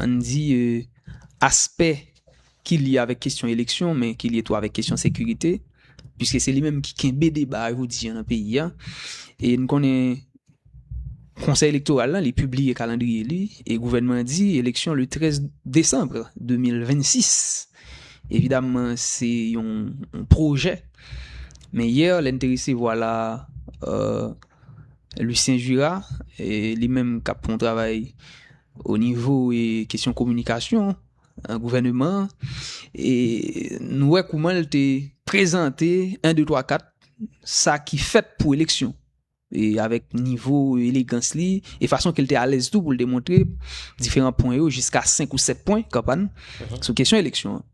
an n di, aspè ki lye avèk kesyon eleksyon, men ki lye tou avèk kesyon sekirite, piske se li menm ki kenbe deba a jodi an nan peyi a. E n konnen Konsèy Elektoral la, li pibliye kalandriye li, e gouvènman an di eleksyon le 13 desanm 2026. Evidamman, se yon pwojè. Men yè, lè n te resevwa la, Lucien Jura, li menm k ap fè yon travay onivo kesyon kominikasyon nan gouvèneman an, nou wè kouman l te prezante 1, 2, 3, 4 sa ki fèt pou eleksyon e avèk nivo elegans li e fason ke l te alèz tou pou l te montre diferan pwen yo jiska 5 ou 7 pwen kanpàn sou kesyon eleksyon an.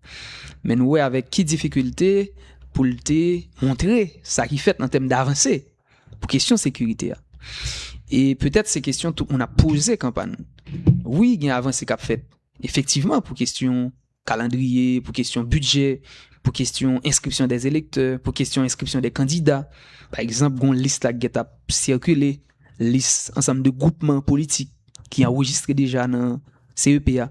Men nou wè avèk ki difikilte pou l te montre sa ki fèt nan tèm davanse pou kesyon sekirite a. E petèt se kesyon tout moun ap poze kanpan. Wi, gen avanse kap fèt. Efektivman, pou kesyon kalandriye, pou kesyon bidjè, pou kesyon enskripsyon de elektè, pou kesyon enskripsyon de kandida. Pa egzanp, gon lis la gèt ap sirkile, lis ansanm de goupman politik ki anrejistre deja nan CEP a.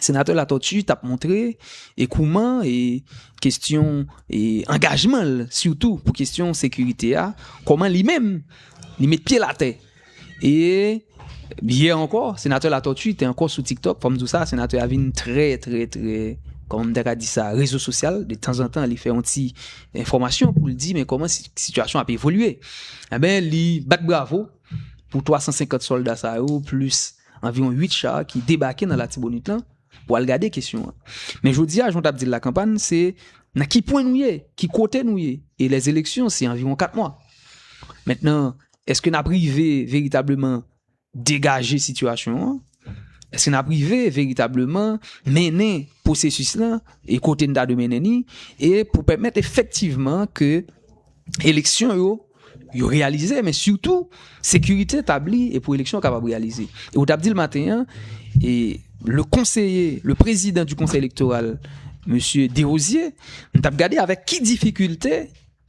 Senatè Latortue tap montre e kouman e kestyon e angajman l sitou pou kestyon sekirite a, kòman li menm li met pye l atè. E yè ankò, Senatè Latortue te ankò sou TikTok, fò m di w sa, Senatè a vin trè trè trè, kòman m ta ka di sa, rezo sosyal, de tanzantan li fè yon ti enfòmasyon pou l di men kòman sitiyasyon ap evolye. Enben li bat bravo pou 350 sòlda sa yo plis anviwon 8 char ki debake nan Latibonit lan pou al gade kesyon an. Men jodi a, jan w t ap di l la kanpann, se nan ki pwen nou ye, ki kote nou ye, e lèzeleksyon se anviwon 4 mwa. Mentnan, èske n ap rive veritableman degaje sitiyasyon an? Èske n ap rive veritableman mennen pwosesis lan e kote n ta dwe mennen ni? E pou pèmèt efektivman ke eleksyon yo yo reyalize men sitou sekirite tabli e pou eleksyon kapab reyalize e ou tap di l maten an e le konseye le prezidan du konsey elektoral mesye Derosier m tap gade avèk ki difikilte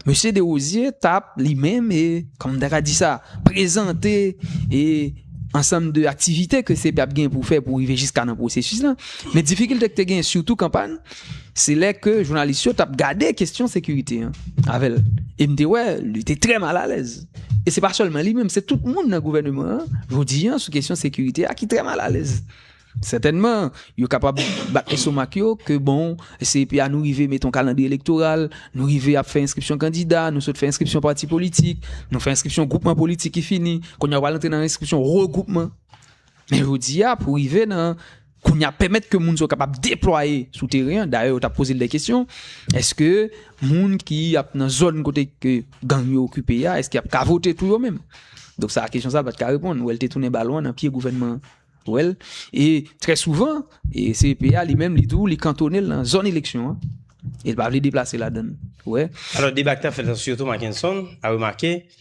mesye Derosier tap li menm e kòm ta ka di sa prezante e ansanm de aktivite ke CEPI ap gen pou fè pou rive jiska nan pwosesis la men difikilte ki te gen sitou kanpay Se lè ke jounalis yo tap gade kestyon sekirite an avèl. E m te wè, li te trè mal alèz. E se pa sèlman li menm, se tout moun nan gouvèneman an, jodi an, sou kestyon sekirite a ki trè mal alèz. Sètènman, yo kapab bat estomak yo ke bon, CEPA nou rive mete yon kalandriye elektoral, nou rive ap fè enskripsyon kandida, nou sot fè enskripsyon pati politik, nou fè enskripsyon gwoupman politik ki fini, kounye a ou al antre nan enskripsyon regwoupman. Men jodi a, pou rive nan. Kounye a, pèmèt ke moun sa yo kapab deplwaye sou teren an, dayè yo t ap poze l de kesyon, èske moun ki ap nan zòn kote ke gang yo okipe a, èske y ap ka vote tou yo menm? Donk sa a kesyon sa a pa t ka reponn, ou wè l te tounen balon an nan pye gouvènman an, ou wè l, e trè souvan e CEP a li menm li tou li kantone l nan zòn eleksyon an, e l pa vle deplase ladan l, ou wè. Alò deba ki t ap fèt la sitou Mackenson a remake.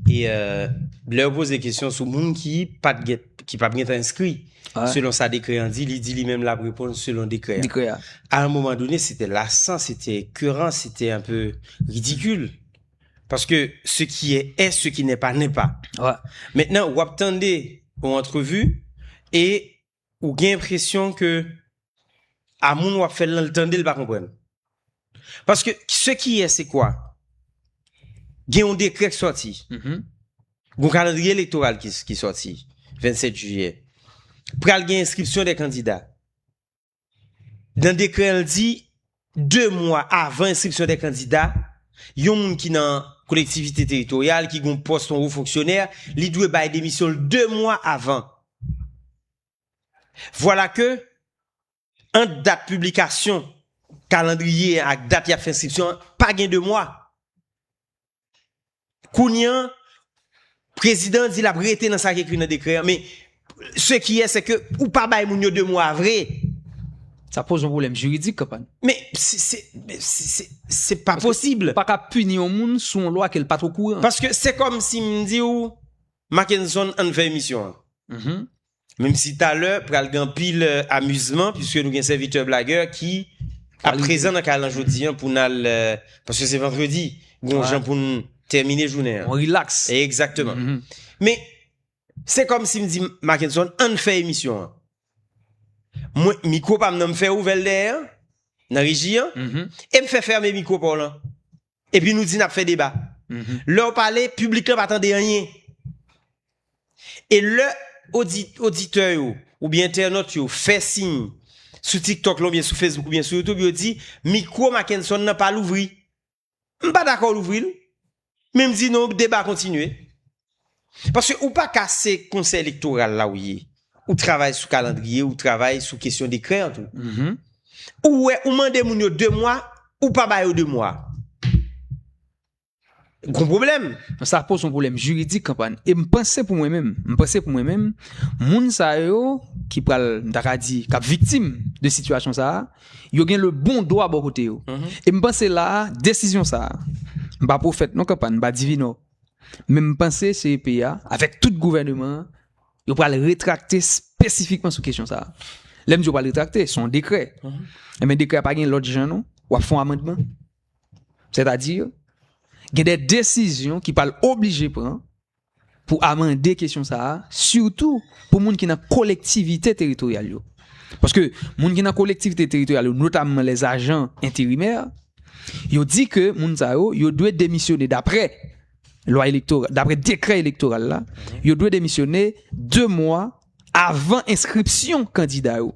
E lè yo poze kesyon sou moun ki pat gen, ki pap gentan enskri, selon sa dekrè an di, li di li menm lap reponn selon dekrè an. Dekrè an. A un moman done se te lasan, se te ekeran, se te un peu ridikil. Paske se ki è è, se ki nè pa nè pa. Wè. Mentnan wap tande yon antrevu e. Ou gen enpresyon ke a moun wap fèl lan li tandel pa konprann. Paske se ki yè se kwa? Gen yon dekrè ki sòti. Mm-hmm. Gon kalandriye elektoral ki ki sòti 27 jiyè. Pral gen enskripsyon de kandida. Nan dekrè an li di 2 mwa avan enskripsyon de kandida, yon moun ki nan kolektivite teritoryal, ki gen yon pòs yon wo fonksyonè, li dwe bay demisyon l 2 mwa avan. Vwala ke, ant dat piblikasyon kalandriye an ak dat y ap fè enskripsyon an, pa gen 2 mwa. Kounye an, prezidan an di l ap rete nan sa ki ekri nan dekrè an, men se ki yè se ke ou pa bay moun yo 2 mwa vre. Sa poze yon pwoblèm jiridik, kanpany. Men, se pa posib. Ou pa ka pini yon moun sou yon lwa ke l pa t okouran. Paske se kòm si m di w, Mackenson, an n fè emisyon an. Menm si talè pral gen anpil amizman piske nou gen sèvitè blagè ki ap prezan nan kay lan jodi an pou n al paske se vandredi gon jan pou n tèmine jounen an. On rilaks. Egzakteman. Men se kòm si m di Mackenson ann fè emisyon an. Mwen mikwo pa m nan m fè ouvè l dèyè an nan reji an e m fè fèmen mikwo pa w lan. Epi nou di nap fè deba. Lèw pale piblik lan pa tande anyen. E lè oditè yo oubyen entènot yo fè siy sou tiktok lan oubyen sou Facebook oubyen sou YouTube yo di mikwo Mackenson nan pa louvri. M pa dakò louvri l. Men m di non deba kontinye. Paske ou pa ka se konsèy elektoral la ou ye, ou travay sou kalandriye, ou travay sou kesyon dekrè an tou. Ou wè, ou mande moun yo 2 mwa, ou pa ba yo 2 mwa. Gon pwoblèm. Donk sa poze yon pwoblèm jiridik kanpa. E m panse pou mwen menm, m panse pou mwen menm, moun sa yo ki pral, m ta ka di, k ap viktim de sitiyasyon sa a, yo gen le bon dwa bò kote yo. E m panse la a, desizyon sa a, m pa pwofèt non kanpa, m pa divinò. Men m panse CEP a, avèk tout gouvèneman an, yo pral retrakte spesifikman sou kesyon sa a. Lè m di yo pral retrakte, son dekrè. E men dekrè a pa gen lòt jan non, w ap fon amandman. Sètadi, gen de desizyon ki pral oblije pran pou amande kesyon sa a, sitou pou moun ki nan kolektivite teritoryal yo. Paske moun ki nan kolektivite teritoryal yo, notamman lè zajan enterimè, Yo di ke moun sa yo, yo dwe demisyone dapre lwa elektoral, dapre dekrè elektoral la, yo dwe demisyone 2 mwa avan enskripsyon kandida yo.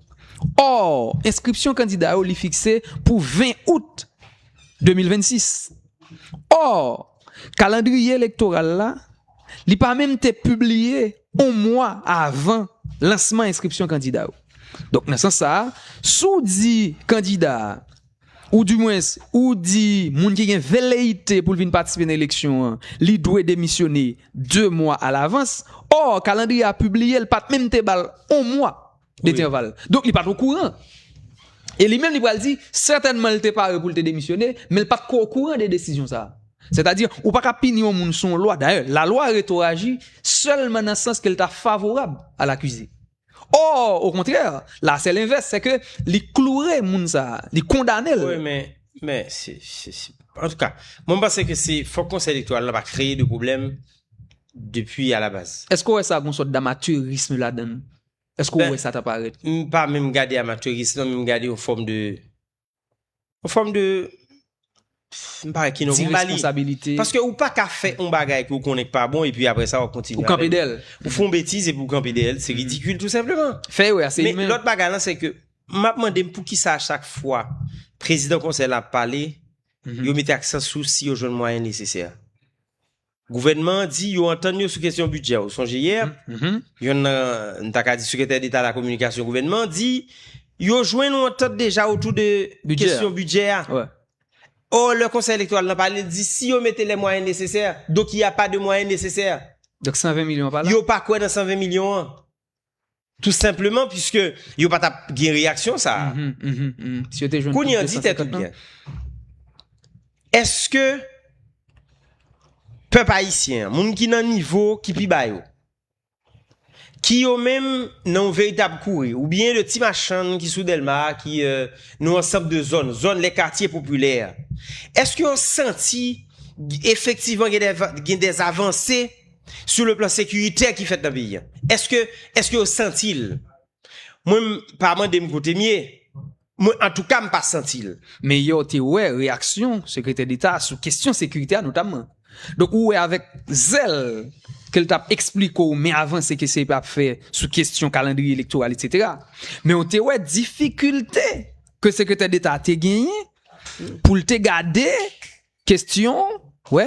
Or, enskripsyon kandida yo li fikse pou 20 out 2026. Or, kalandriye elektoral la, li pa menm te pibliye 1 mwa avan lansman enskripsyon kandida yo. Donk nan sans sa a, si w di kandida a, ou di mwens ou di moun ki gen veleyite pou l vin patisipe nan eleksyon an, li dwe demisyone 2 mwa alavans, or kalandriye a pibliye l pat menm te bal 1 mwa detèval. Donk li pat okouran. E li menm li pral di sètènman li te pare pou l te demisyone, men li pat ko okouran de desizyon sa. Sètadi ou pa ka pini yon moun sou yon lwa, dayè lalwa retoraji sèlman nan sans ke l ta favorab a lakize. Or, au contraire, la c'est l'inverse, c'est que li kloure moun sa, li kondane l. Wi men, men, se, se, se, an tou ka, mwen m panse ke se, fòk konsèy elektoral la pa kreye de pwoblèm depi a la baz. Eske w wè sa gon sòt damaturism ladan l? Eske w wè sa ta parèt? M pa menm gade amateurisme lan, men m gade yon fòm de Yon fòm de, m pa wè ki non pou m ba li. Diresponsabilite. Paske ou pa ka fè yon bagay ke ou konnen k pa bon epi aprè sa w ap kontinye avè l. Ou kanpe dèyè l. Ou fè yon betiz epi ou kanpe dèyè l, se ridikil tou senpleman. Fè erè a se imen. Men lòt bagay lan se ke m ap mande m poukisa a chak fwa prezidan konsèy la ap pale, yo mete aksan sou si yo jwenn mwayen nesesè. Gouvènman an di yo antann yo sou kesyon bidjè. Ou sonje yè, yonn nan, m ta ka di sekretè deta lakominikasyon gouvènman an di yo jwenn yon antant deja otou de kesyon bidjè a. Ò, lè konsèy elektoral nan pale, l di si yo mete lè mwayen nesesè, donk y a pa de mwayen nesesè. Donk 120 milyon pa la? Yo pa kwè nan 120 milyon an. Tou senpleman piske yo pa tap gen reyaksyon sa a. Kounye an di tèt ou byen. Eske pèp ayisyen an, moun ki nan nivo ki pi ba yo, ki yo menm nan yon veritab kouri, oubyen le ti machann ki sou Dèlma a, ki nan ansanb de zòn, zòn le katye popilè, eske yo santi efektivman gen de avanse? sou le plan sekiritè ki fèt nan peyi an. Eske, eske yo santi l? Mwen m pa mande m kote m ye, mwen antouka m pa santi l. Men yè w te wè reyaksyon Sekretè Deta a sou kesyon sekiritè a notamman. Donk ou wè avèk zèl ke l t ap esplike w men avanse ke CEPE ap fè sou kesyon kalandriye elektoral etsetera. Men w te wè difikilte ke Sekretè Deta a te genyen pou l te gade kesyon, wè,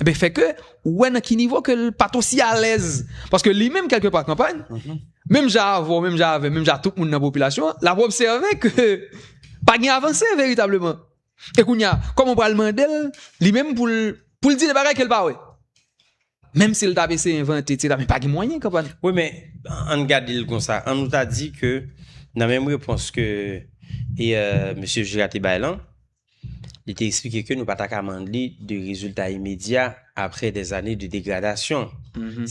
Ebe eh fè ke, ou wè nan ki nivo ke l pat osi alèz. Paske li menm kelke pa kanpay, mhm. menm ja avò, menm ja avè, menm ja tout moun nan popilasyon, la pou obseve ke pa gen avanse veritableman. E koun ya, kòm ou pral mandel, li menm pou l, pou l di de bagay ke l pa wè. Menm si l ta bese invente, ti la, men pa gen mwayen kanpay. Ou men, an gade l kon sa, an nou ta di ke, nan menm repons ke, e, euh, mesye Jira te bay lan, Li te eksplike ke nou pa ta ka mande li de rezilta imedya apre dè ane de degradasyon,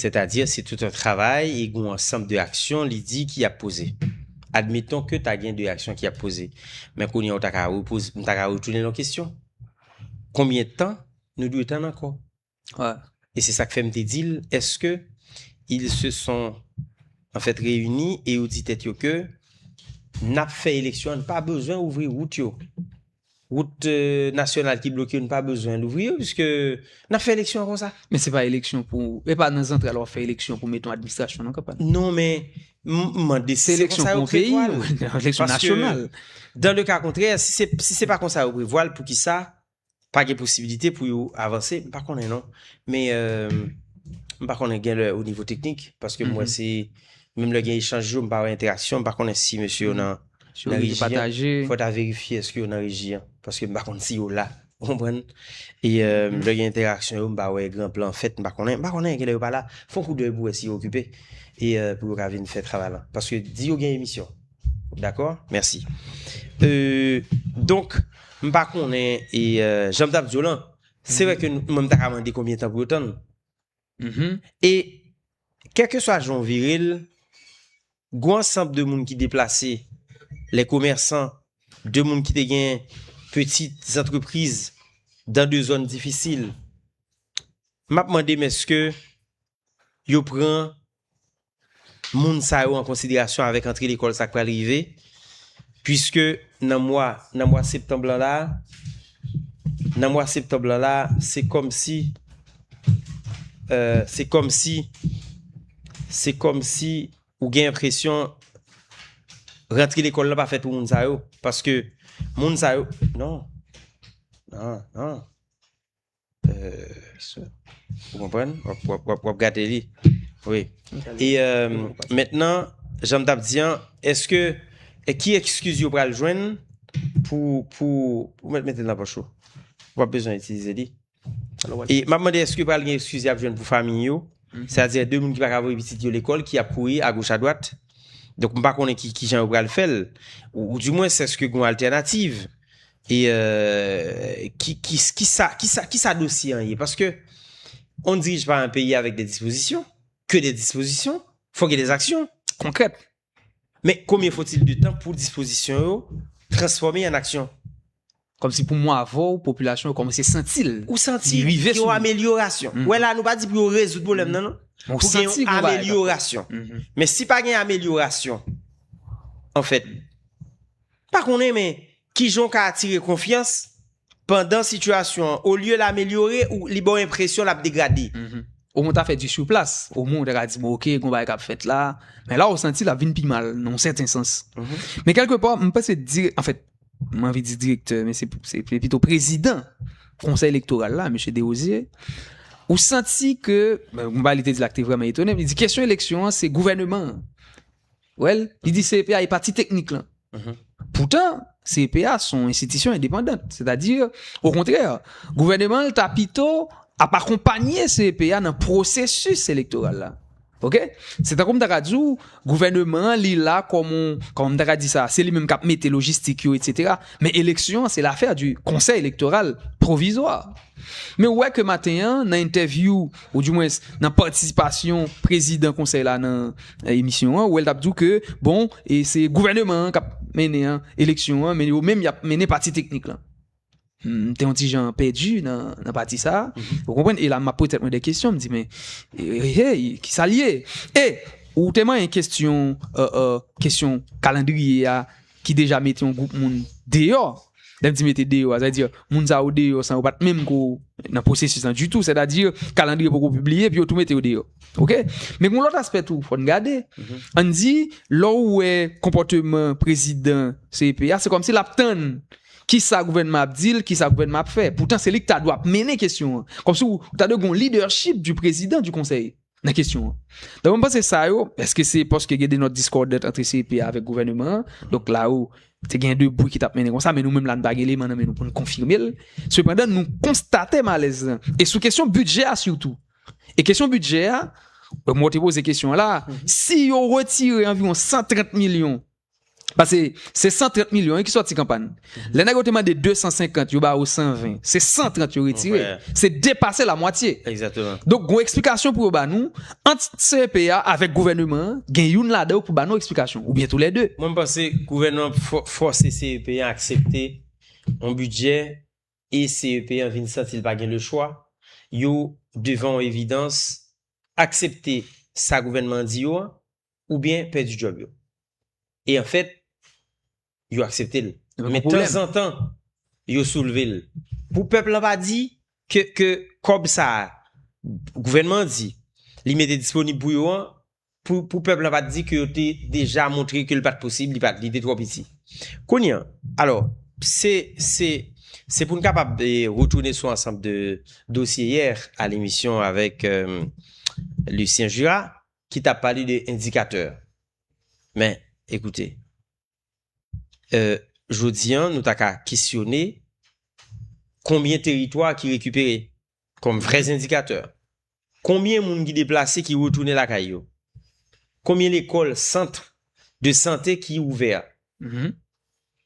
sètadi se tout yon travay e g'on ansanb de aksyon li di ki ap poze. Admeton ke ta gen de aksyon ki ap poze, men kounye a ou ta ka repoze, m ta ka retounen l yon kesyon, konbyen tan nou dwe tann ankò? E se sa k fè m te di l, Èske ils se sont en fait réunis et yo di tèt yo ke n ap fè eleksyon an, n pa bezwen ouvri wout yo. Wout nasyonal ki bloke yo, n pa bezwen louvri yo piske n ap fè eleksyon an konsa. Men se pa eleksyon pou, e pa nan zantral w ap fè eleksyon pou mete yon administrasyon nan kanpay. Non men, m mande si se konsa yo prevwa l. Se eleksyon pou yon peyi, eleksyon nasyonal. Paske, dan le ka kontrè, si se pa konsa yo prevwa l, poukisa Pa gen posibilite pou yo avanse, m pa konnen non. Men, m pa konnen gen lè o nivo teknik, paske m wè se, menm lè gen echanj yo, m pa wè entèraksyon, m pa konnen si mesye yo nan reji an. Fò ta verifye èske yo nan reji an, paske m pa konnen si yo la. Ou konprann? E lè gen entèraksyon yo, m pa wè gran plan fèt, m pa konnen. M pa konnen, gen lè yo pa la. Fon koudèy pou wè si yo okipe, e pou yo ka vin fè travay lan. Paske di yo gen emisyon. Dakò? Mèsi. E, donk, m pa konnen, e, jan m t ap di w lan, se vre ke mwen m ta ka mande konbyen tan pou yo tann. E, kèlkeswa jan w vire l, gwo ansanb de moun ki deplase, lè komèsan, de moun ki te gen peti zantrepriz dan de zòn difisil, m ap mande m èske yo pran moun sa yo an konsiderasyon avèk antre lekòl sa k pral rive, puiske nan mwa, nan mwa septanb lan la a, nan mwa septanb lan la a, se kòmsi, se kòmsi, se kòmsi ou gen enpresyon rantre lekòl lan pa fèt pou moun sa yo, paske moun sa yo, non, non, non. Ou konprann? Wap gade li. Wi. E mentnan, janm tap di an, eske ki ekskiz yo pral jwenn pou pou ou met mete nan pòch ou? Ou pap bezwen itilize li. E map mande eske pral gen ekskiz yap jwenn pou famiy yo? Sa di de moun ki paka voye pitit yo lekòl ki ap kouri a goch a dwat. Donk m pa konnen ki jan yo pral fèl. Ou di mwen sèske gen yon altènativ. E ki ki sa dosye an ye? Paske on dirige pa an peyi avèk de dispozisyon, ke de dispozisyon, fòk gen de zaksyon. Konkrèt. Men konbyen fotil de tan pou dispozisyon yo transfòme an aksyon? Kòm si pou mwa avè w, popilasyon yo kòmanse santi l. Ou santi gen yon amelyorasyon. Wè la nou pa di pou yo rezoud pwoblèm nan non. Pou gen yon amelyorasyon. Men si pa gen amelyorasyon, an fèt. Pa konnen men kijan w ka atire konfyans pandan sitiyasyon an olye l amelyore ou li ba w enpresyon l ap degrade. Omwen w ta fè di sur place, omwen w ta ka di bon ok gon bagay k ap fèt la, men la w santi l ap vin pi mal nan yon sèten sans. Men kèlke pa m panse dire, anfèt m anvi di direktè men se pito prezidan konsèy elektoral la Mesye Derosier, ou santi ke, gon bagay li te di la ki te vrèman etone m, li di kesyon eleksyon an se gouvèneman an. Wèl, li di CEPA e pati teknik lan. Poutan, CEPA se yon enstitisyon endepandant. Sètadi, okontrè, gouvèneman l ta pito ap akonpanye CEPA nan pwosesis elektoral la. Ok? Se tankou m ta ka di w, gouvèneman an li la kòm yon, kòman m ta ka di sa, se li menm k ap mete lojistik yo, etsetera. Men eleksyon an se lafè di konsèy elektoral pwovizwa. Men ou wè ke maten an, nan entèvyou, ou di mwens, nan patisipasyon prezidan konsèy la nan emisyon an, ou wè l t ap di w ke, bon, e se gouvèneman an k ap mennen an, eleksyon an, men yo menm y ap mennen pati teknik lan. M te yon ti jan pèdi nan pati sa a, ou konprann, e la m ap poze tèt mwen de kesyon, m di men, hey, ki sa l ye? E, ou te manyen kesyon, kesyon kalandriye a, ki deja mete yon gwoup moun deyò, lè m di mete deyò a, sa vle di moun sa yo deyò san yo pa t menm ko nan pwosesis lan ditou, sètadi kalandriye poko pibliye epi yo tou mete yo deyò. Ok, men gen lòt aspè tou fò n gade, an n di lè w wè konpòteman prezidan CEP a, se kòmsi l ap tann kisa gouvènman an ap di l, kisa gouvènman an ap fè, poutan se li ki ta dwe ap mennen kesyon an, kòmsi w ta dwe gen yon lidèchip di prezidan di konsèy. nan kesyon an. Donk mwen panse sa yo, eske se paske gen de not discordant antre CEP a avèk gouvèneman an, donk la ou te gen de bri ki tap mennen konsa, men nou menm la nou pa gen eleman nan men nou pou nou konfime l. Sepandan nou konstate malèz lan. E sou kesyon bidjè a sitou. E kesyon bidjè a, mwen te poze kesyon an la, si yo retire anviwon 130 milyon Pase se 130 milyon wi ki sòti kanpay. Lè nèg yo te mande 250 yo ba ou 120. Se 130 yo retire. Se depase la mwatye. Donk gon eksplikasyon pou yo ba nou ant CEP a avèk gouvèneman an gen youn ladan yo pou ba nou eksplikasyon oubyen tou lè 2. Mwen m panse gouvènman an fò fòse CEP an aksepte yon bidjè e CEP an vin santi l pa gen le chwa. Yo devan yon evidans aksepte sa gouvènman an di yo an. oubyen pèdi djòb yo. E anfèt, yo aksepte l. Men tanzantan, yo soulve l. Pou pèp lan pa di ke kòb sa a gouvènman an di li mete disponib pou yo an, pou pèp lan pa t di ke yo te deja montre ke l pa t posib, li te twò piti. Kounye an, alò, se pou n kapab retounen sou ansanm de dosye yè a lemisyon avèk Lucien Jurat, ki ta pale de endikatè. Men, ekoute, jodi an, nou ta ka kesyone konbyen teritwa ki rekipere kòm vrè endikatè? Konbyen moun ki deplase ki retounen lakay yo? Konbyen lekòl, sant de sante ki ouvè?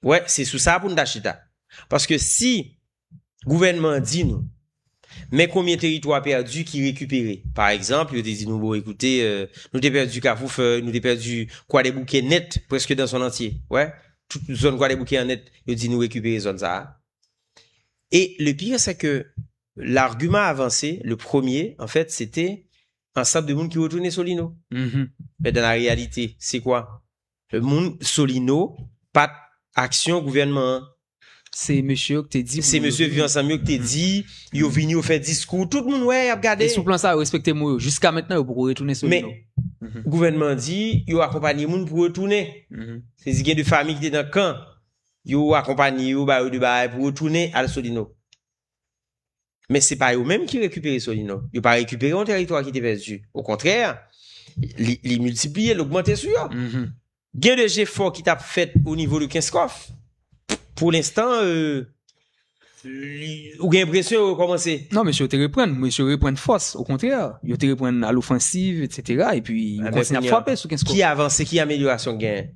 Ou wè, se sou sa pou nou ta chita. Paske si Gouvènman an di nou, Men konbyen teritwa pèdi ki rekipere. Pa egzanp, yo te di nou, bon, ekoute, nou te pèdi Kafoufèy, nou te pèdi Kwadèboukè nèt, prèske dan son antye. Wè, tout zòn Kwadèboukè an nèt, yo di nou rekipere zòn sa a. E le pire se ke largiman avanse, le premye, an fèt, se te ansanm de moun ki retounen Solino. Men dan la reyalite, se kwa? Moun solino pat aksyon gouvènman an. Se mesye yo ki te di pou yo vini. Se mesye viv ansanm yo ki te di yo vini yo fè diskou tout moun wè yap gade. E sou plan sa yo respekte mo yo jiska mentnan yo poko retounen solino. Men gouvènman an di yo akonpanye moun pou retounen. Se di gen de fami ki te nan kan yo akonpanye yo ba yo de bagay pou retounen al solino. Men se pa yo menm ki rekipere Solino. Yo pa rekipere yon teritwa ki te pèdi. Okontrè, li miltipliye, li ogmante sou yo. Mm-hmm. Gen de jefò ki tap fèt o nivo de Kenskòf. Pou lenstan, euh, ou gen enpresyon yo kòmanse. Non, mesye yo te reprann. Mesye yo reprann fòs. Okontrè, yo te reprann alofansiv, etc. E pi, yo kontinye ap fwape sou Kenskòf. Ki avanse, ki amelyorasyon gen?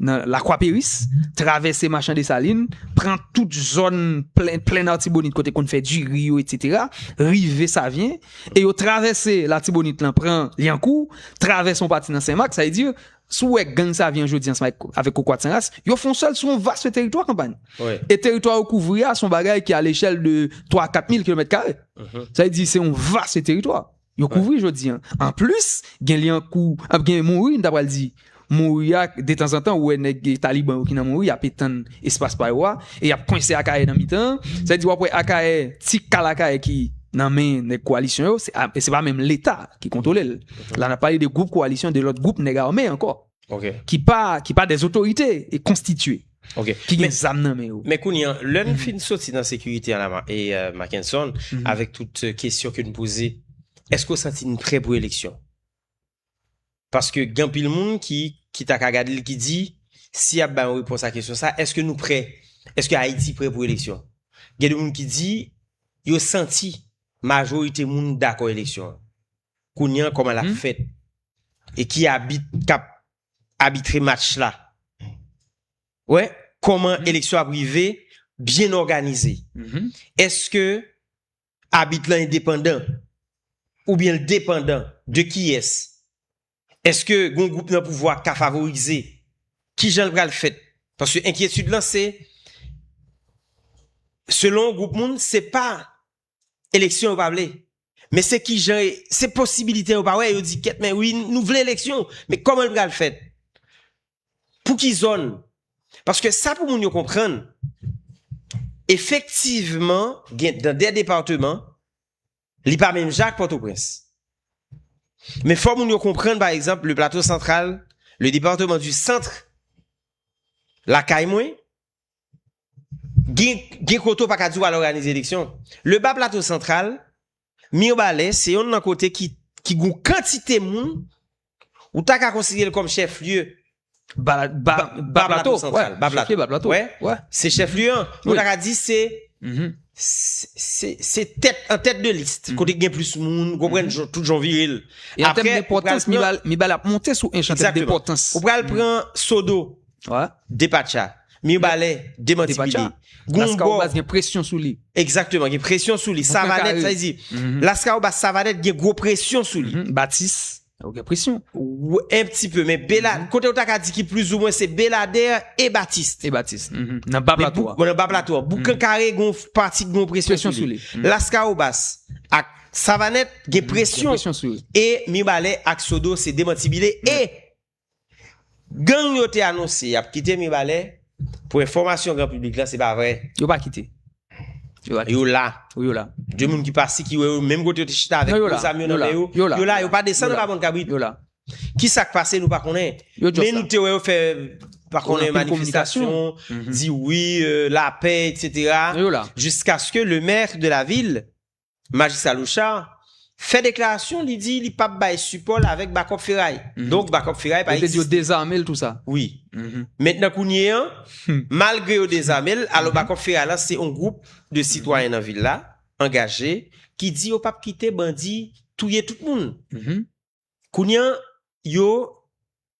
nan Lakwa Peris, travèse Machan Desalin, pran tout zòn plenn Artibonit kote konn fè diri yo etsetera, rive Savyen, e yo travèse Latibonit lan pran Lyankou, travèse yon pati nan Sen Mak, sa vle di, si w wè gang Savyen an jodi an ansanm avèk Kokorat San Ras, yo fè yon sèl sou yon vaste teritwa kanpay. E teritwa yo kouvri a se yon bagay ki a lechèl de 3 a 4 mil kilomèt kare. Sa vle di se yon vaste teritwa. Yo kouvri jodi an. An plis, gen Lyankou, ap gen Mouri, m ta pral di. Mouri a, detanzantan ou wè nèg Taliban yo ki nan Mouri, y ap etann espas pa yo a, e y ap kwense Akayè nan mitan an. Sa vle di w ap wè Akayè, ti kal Akayè ki nan men nèg kowalisyon yo, se pa menm Leta ki kontwole l. La n ap pale de gwoup kowalisyon, de lòt gwoup nèg ame ankò. ki pa des otorite e konstitye, ki gen zam nan men yo. Men kounye an, lè n fin soti nan sekirite an la, Mackenson, avèk tout kesyon ke n poze, èske ou santi n prè pou eleksyon? Paske gen anpil moun ki ta ka gade l, ki di, si y ap bay yon repons a kesyon sa, èske nou prè? Èske Ayiti prè pou eleksyon? Gen de moun ki di, yo santi majorite moun dakò eleksyon. Kounye an koman lap fèt? E ki abit kap abitre match la? Wè koman eleksyon ap rive byen òganize? Eske abit lan endepandan? Oubyen l depandan de kiyès? Eske gon gwoup nan pouvwa ka favorize? Kijan l pral fèt? Paske enkyetid lan se selon gwoup moun se pa eleksyon yo pa vle men se kijan se posibilite yo pa wè yo di kèt men wi nou vle eleksyon men kòman l pral fèt pou ki zòn paske sa pou moun yo konprann efektivman gen dan de departeman li pa menm jan ak pòtoprens men fò moun yo konprann pa egzanp le plato santral le departeman di santre lakay mwen Gen kote ou pa ka di ou al òganize eleksyon. Leba Plato Santral, Mirbalè se yonn nan kote ki gen kantite moun ou ta ka konsidere l kòm chèflye. Ba Plato Santral. Ba Plato. Ba Plato. Wè. Wè. Se chèflye an. Ou ta ka di se. Se tèt an tèt de liste. Kote gen plis moun. Konpren tout jan vire l. Apre. An tèt de potans. Mirbalè ap monte sou enchantèt de potans. Ou pral pran Sodo. Depatcha. Mirebalais demanti pidi. Laskawobas gen presyon sou li. Exactement, gen presyon sou li. Savanèt, sa vle di, Laskawobas, Savanèt gen gwo presyon sou li. Batis, ou gen presyon. Un petit peu, men Bela, kote ou ta ka di ki plis ou mwen se Belader e Batis. E Batis, nan ba plato a. Nan ba plato a. Boukan kare gen yon pati ki gen yon presyon sou li. Laskawobas ak Savanèt gen presyon. Gen presyon sou li. E Mirebalais ak Sodo se demanti bile e Gang yo te anonse yap kite Mibalè, pou enfòmasyon gran piblik lan se pa vre. Yo pa kite. Yo la. Wi yo la. De moun ki pase ki wè yo menm kote yo te chita avèk gwo zam yo nan men yo. Yo la. Yo la. Yo pa desann anba Bon Kabrit. Yo la. Ki sak pase nou pa konnen. Yo just la. Men nou te wè yo fè pa konnen manifestasyon, di wi, lapè etc. Yo la. Jiskaske le mèr de la vil Majistra Lochard fè deklarasyon li di li pap bay sipò l avèk bakòp feray. Donk bakòp feray pa egziste. Yo te di yo dezame l tou sa. Wi. Mentnan kounye an, malgre yo dezame l, alò bakòp feray lan se yon gwoup de sitwayen nan vil la, angaje, ki di yo pap kite bandi touye tout moun. Kounye an, yo.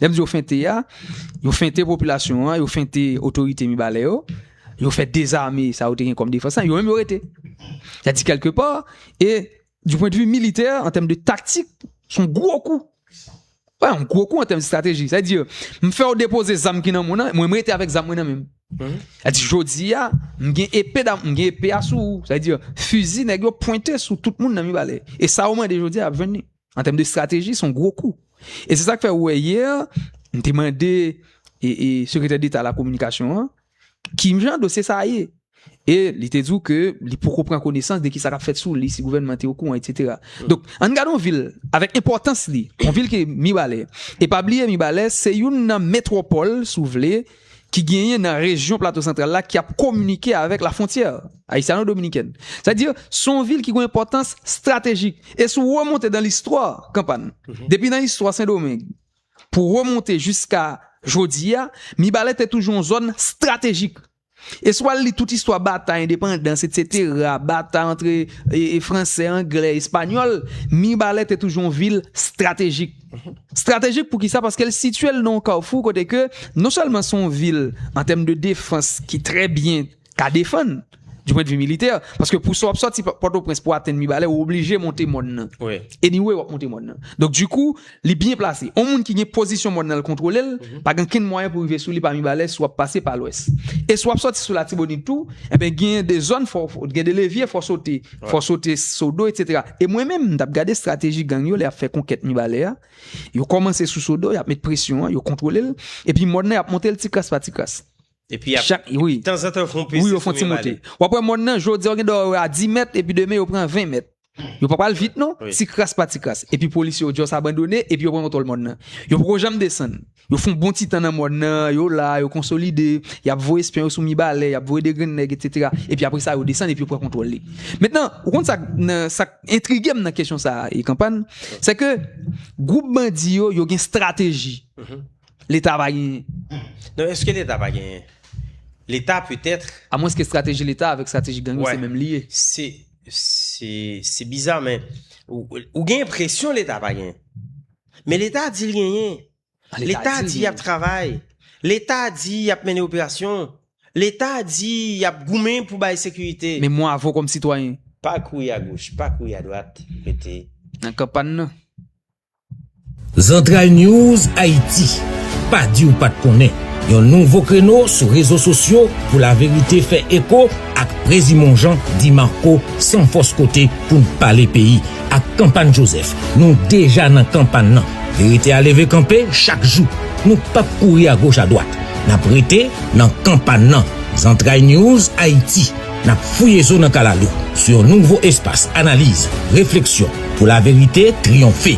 Lè m di yo fente a, yo fente popilasyon an, yo fente otorite Mibalè yo, yo fè dezame sa yo te gen kòm defans lan, yo menm yo rete. Sa di kelke pa, e di pwent vi militè, an tèm de taktik, son gwo kou. Wè, an gwo kou an tèm de strateji. Sa di, m fè yo depoze zam ki nan moun nan, mwen m rete avèk zam mwen nan menm. Sa di, jodi a, m gen epe dam, m gen epe a sou ou. Sa di, fizi nèg yo pwente sou tout moun nan Mibalè. E sa ou mande jodi a, ap jwenn ni. An tèm de strateji, son gwo kou. E se sak fè ou wè yè, m te mande e sekretè deta la kominikasyon an, ki jan dosye sa ye? E li te di ou ke li poko pran konesans de ki sa kap fèt sou li, si gouvènman te okouran, etc. Donk, an n gade yon vil avèk enpòtans li, yon vil ki Mibalè. E pa bliye Mibalè se youn nan metwòpòl, si w vle, ki. ki genyen nan rejyon Plato Santral la ki ap kominike avèk lafwontyè ayisyano-dominikèn. Sa di, se yon vil ki gen yon enpòtans estratejik. E si w remonte nan listwa, Kanpàn, depi nan istwa Sendomeng pou w remonte jiska jodi a, Mibalè te toujou yon zòn estratejik. E si w al li tout istwa batay endepandans etsetera, batay antre Fransè, Anglè, Espanyòl, Mibalè te toujou yon vil estratejik. Stratejik poukisa? Paske l sitye l nan yon kawfou kote ke non sèlman se yon vil an tèm de defans ki trè byen ka defann di pwendvi militè, paske pou sa w ap sòti Pòtoprens pou w atenn Mibalè ou oblije monte mòn nan. Anyway w ap monte mòn nan. Donk dikou li byen plase. Yon moun ki gen pozisyon mòn nan l kontwole l, pa gen okenn mwayen pou rive sou li pa Mibalè si w ap pase pa lwès. E si w ap sòti sou Latibonit tou, enben gen de zòn fò w gen de levye fò w sote. Fòs yo te Sodo, etc. E mwen menm, m t ap gade estrateji gang yo lè y ap fè konkèt Mibalè a. Yo kòmanse sou Sodo, y ap met presyon an, yo kontwole l. Epi mòn nan y ap monte l ti kras pa ti kras. Epi y ap, tanzantan yo fè yon peze sou Mibalè. W ap wè mòn nan, jodi a ou gen dwa wè yo a 10 mèt, epi demen yo pran 20 mèt. Yo pa pral vit non, ti kras pa ti kras. Epi polisye yo just abandone, epi yo pran kontwòl mòn nan. Yo poko janm desann. Yo fon bon ti tan nan mòn nan, yo la, yo konsolide, y ap voye espyon yo sou Mibalè, y ap voye degrenn nèg, etsetera, epi apre sa yo desann epi yo pran kontwòl li. Mentnan, ou konn sa k nan sa k entrige m nan kesyon sa a, Kanpan, sè ke gwoup bandi yo, yo gen estrateji Leta pa genyen. Non, èske Leta pa genyen? Leta petèt. Amwenske estrateji Leta avèk estrateji gang yo se menm li ye. Se, se, se biza men ou gen enpresyon Leta pa genyen. Men leta di li genyen. Leta di yap travay. Leta di yap mennen operasyon. Leta di yap goumen pou bay sekirite. Men mwen avè w kòm sitwayen. Pa kouri a goch, pa kouri a dwat, rete. Nan kan pa n nan. ZantralNews Haïti, Pa di w pa t konnen, yon nouvo kreno sou rezo sosyo pou laverite fè eko ak Prezimon Jan Di Marco san fòs kote pou n pale peyi. Ak Kanpagn Jozèf, nou deja nan kanpagn nan. Verite a leve kanpe chak jou. Nou pap kouri agoch adwat. N ap rete nan kanpagn nan. Zantray News Ayiti, n ap fouye zo nan kalalou sou yon nouvo espas analiz, refleksyon pou laverite triyonfe.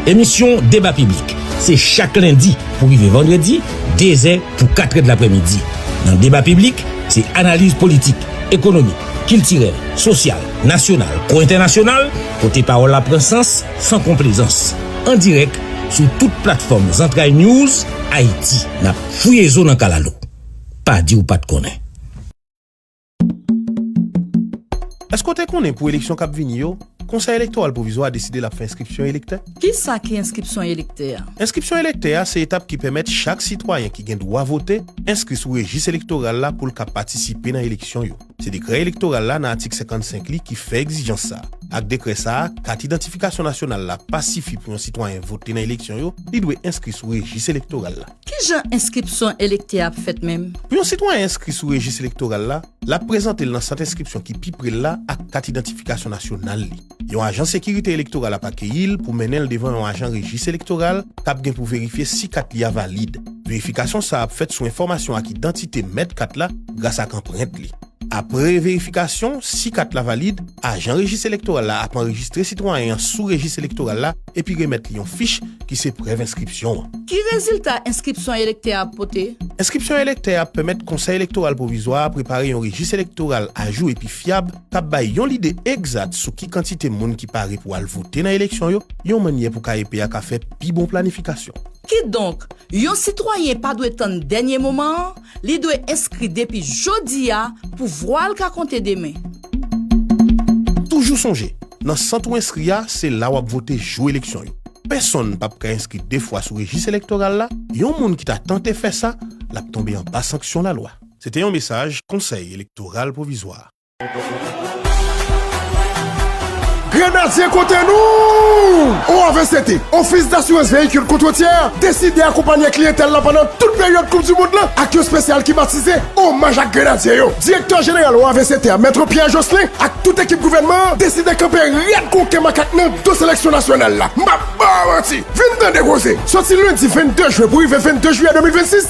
Emisyon Deba Piblik se chak lendi pou rive vandredi, dezè pou katrèdlaprèmidi. Nan Deba Piblik, se analiz politik, ekonomik, kiltirèl, sosyal, nasyonal kou entènasyonal, kote pawòl la pran sans san konplezans. An dirèk sou tout platfòm Zantray News Ayiti, n ap fouye zo nan kalalou. Pa di ou pa t konnen. Èske w te konnen pou eleksyon k ap vini yo, Konsèy Elektoral Pwovizwa a deside l ap fè enskripsyon elektè? Kisa ki enskripsyon elektè a? Enskripsyon elektè a se etap ki pèmèt chak sitwayen ki gen dwa vote enskri sou rejis elektoral la pou l ka patisipe nan eleksyon yo. Se dekrè elektoral la nan atik 55 li ki fè egzijans sa. Ak dekrè sa, kat idantifikasyon nasyonal la pa sifi pou yon sitwayen vote nan eleksyon yo, li dwe enskri sou rejis elektoral la. Ki jan enskripsyon elektè ap fèt menm? Pou yon sitwayen enskri sou rejis elektoral la, l ap prezante l nan sant enskripsyon ki pi pre l la ak kat idantifikasyon nasyonal li. Yon ajan sekirite elektoral ap akeyi l pou mennen l devan yon ajan rejis elektoral k ap gen pou verifye si kat li a valid. Verifikasyon sa a ap fèt sou enfòmasyon ak idantite mèt kat la gras ak anprent li. Apre verifikasyon, si kat la valid, ajan rejis elektoral la ap anrejistre sitwayen an sou rejis elektoral la epi remèt li yon fich ki se prèv enskripsyon an. Ki rezilta enskripsyon elektè a ap pote? Enskripsyon elektè a ap pèmèt Konsèy Elektoral Pwovizwa a prepare yon rejis elektoral ajou epi fyab, k ap bay yon lide egzat sou ki kantite moun ki pare pou al vote nan eleksyon yo, yon mannyè pou KEP a ka fè pi bon planifikasyon. Kidonk, yon sitwayen pa dwe tann dènye moman an, li dwe enskri depi jodi a pou vwa l ka konte demen. Toujou sonje, nan sant ou enskri a, se la w ap vote jou eleksyon yo. Pèsonn p ap ka enskri de fwa sou rejis elektoral la, yon moun ki ta tante fè sa, l ap tonbe anba sanksyon lalwa. Se te yon mesaj Konsèy Elektoral Pwovizwa. Grenadye kote nou! OAVCT, Ofis Dasurans Veyikil Kont Wotyè, deside akonpanye kliyentèl la pandan tout peryòd koup di mond lan ak yon spesyal ki batize Omaj ak Grenadye yo. Direktè Jeneral OAVCT a, Maitre Pierre Jocelin, ak tout ekip gouvènman an deside kanpe rèd kon ke makak nan do seleksyon nasyonal la. M pa ba w manti! Vin tande koze! Sòti lendi 22 jen pou rive 22 jiyè 2026,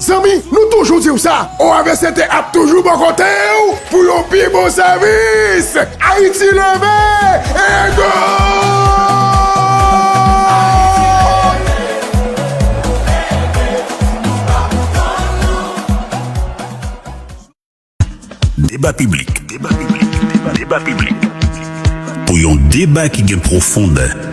Zanmi nou toujou diw sa OAVCT ap toujou bò kotew pou yon pi bon sèvis Ayiti leve ego. Deba piblik Pou yon deba ki gen pwofondè.